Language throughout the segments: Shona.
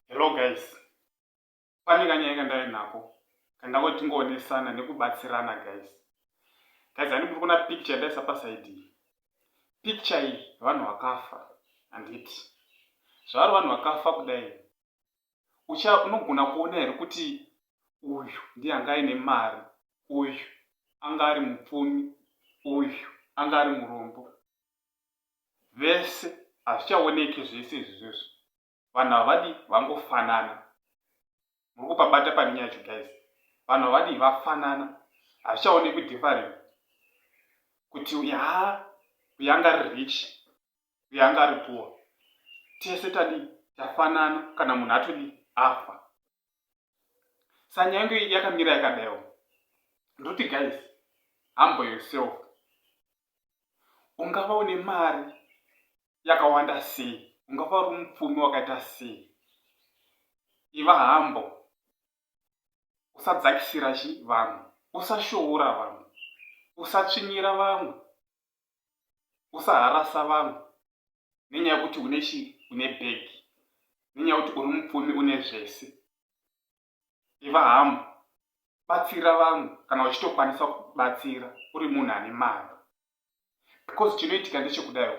Hello guys, pane kanyaya kandave nako kandangoti tingoonesana nekubatsirana guys. Guys, handi muri kuona picture yandaisa paside iyi. Picture iyi vanhu vakafa handiti. Zvavari vanhu vakafa kudai ucha unogona kuona here kuti uyu ndiye anga aine mari uyu anga ari mupfumi uyu anga ari murombo vese hazvichaoneke zvese izvi zvizvo vanhu havadi vangofanana muri kupabata pane nyaya yacho guys vanhu havadi vafanana hazvichaonekwi different kuti uyu haa uyu anga ari rich uye anga ari poor tese tadii tafanana kana munhu atodii afa sanyange yakamira yakadaiwo ndoti guys humble yourself ungava une mari yakawanda sei ungava uri mupfumi wakaita sei iva hambo usadzakisira chi vanhu usashoora vanhu usatsvinyira vamwe usaharasa vanhu nenyaya yekuti une chi une bhegi nenyaya yekuti uri mupfumi une zvese iva hamu batsira vanhu kana uchitokwanisa kubatsira uri munhu ane mari because chinoitika ndechekudaio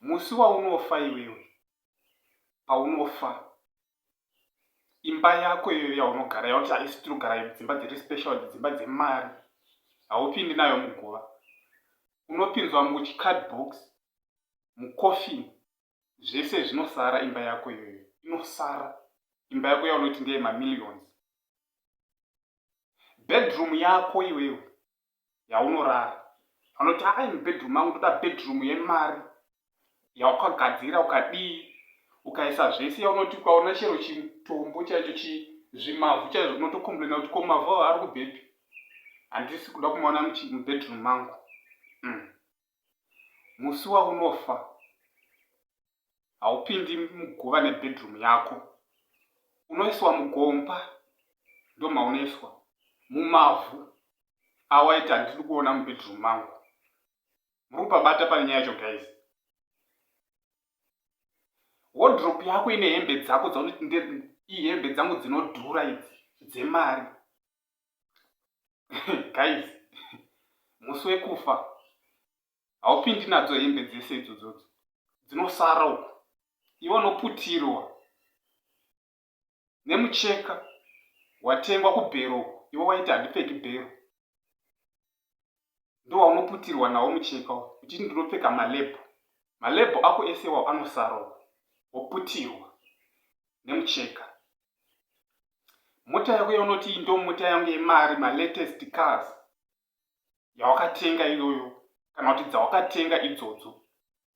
musi waunofa iwewe paunofa imba yako iyoyo yaunogara yauti haisi tinogara dzimba dziri special dzimba dzemari haupindi nayo muguva unopinzwa muchicard box mucoffin zvese zvinosara imba yako iyoyo inosara imba yako yaunoti ndeye mamillions bedroom yako iwewe yaunorara anoti aa ini bedroom mangu ndoda bedroom yemari yaukagadzira ukadii ukaisa zvese yaunoti ukaona chero chitombo chaicho chizvimavhu chaizvo unotokomplaina kuti ko mavhu avo ari kubhepi handisi kuda kumaona mubedroom mangu mm. musi waunofa haupindi muguva nebedroom yako unoiswa mugomba ndomaunoiswa mumavhu awaiti handidi kuona mubedroom mangu muri kupabata pane nyaya yacho guys wodrop yako ine hembe dzako dzaunoti ihembe dzangu dzinodhura idzi dzemari guys musi wekufa haupindi nadzo hembe dzese idzodzodzo dzinosara uku iwe unoputirwa nemucheka watengwa kubhero uku iwe waiti handipfeki bhero ndowaunoputirwa nawo mucheka uchiti ndinopfeka malebho malebho ako ese iwawo anosarwa woputirwa nemucheka mota yako yaunoti ndo mota yangu yemari malatest cars yawakatenga iyoyo kana kuti dzawakatenga idzodzo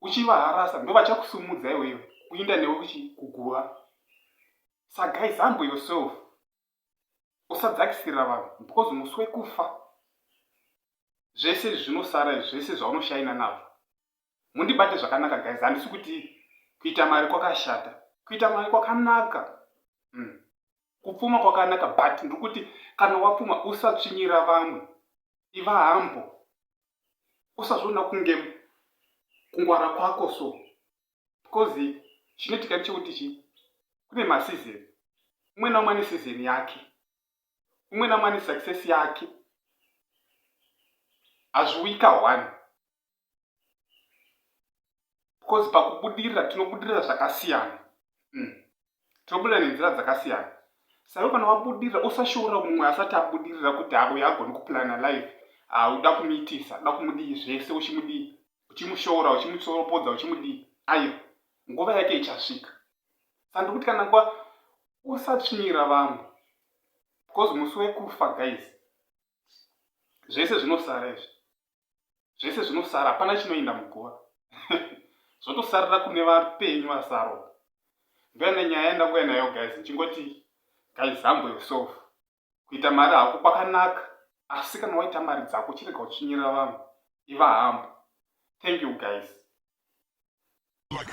uchivaharasa ndovachakusumudza iwewe kuinda newe kuchi kuguva sa guys humble yourself usadzakisira vanhu because musi wekufa zvese zvinosara izvi zvese zvaunoshaina nazvo mundibate zvakanaka guys handisi kuti kuita mari kwakashata kuita mari kwakanaka mm. kupfuma kwakanaka but ndiri kuti kana wapfuma usatsvinyira vamwe iva hambo usazviona kunge kungwara kwako so because chinoitika ndechekuti chi kune masizeni umwe naumwe ane sizeni yake umwe naumwe ane success yake hazviuyika one because pakubudirira tinobudirira zvakasiyana mm. tinobudirira nenzira dzakasiyana saiwe kana wabudirira usashoora mumwe asati abudirira kuti auya agoni kuplana life auda ah, kumuitisa uda kumudii zvese uchimudii uchimushoora uchimusoropodza uchimudii aiwa nguva yake ichasvika sandikuti kana nguva usatsvinyira vamwe because musi wekufa guys zvese zvinosara izvi zvese zvinosara hapana chinoinda muguva zvotosarira kune vapenyu vasaro ndoenda nyaya yandauya nayo guys ndichingoti gaizambo yourself kuita mari hako kwakanaka asi kana waita mari dzako chirega uchinyira vanhu iva hambo thank you guys like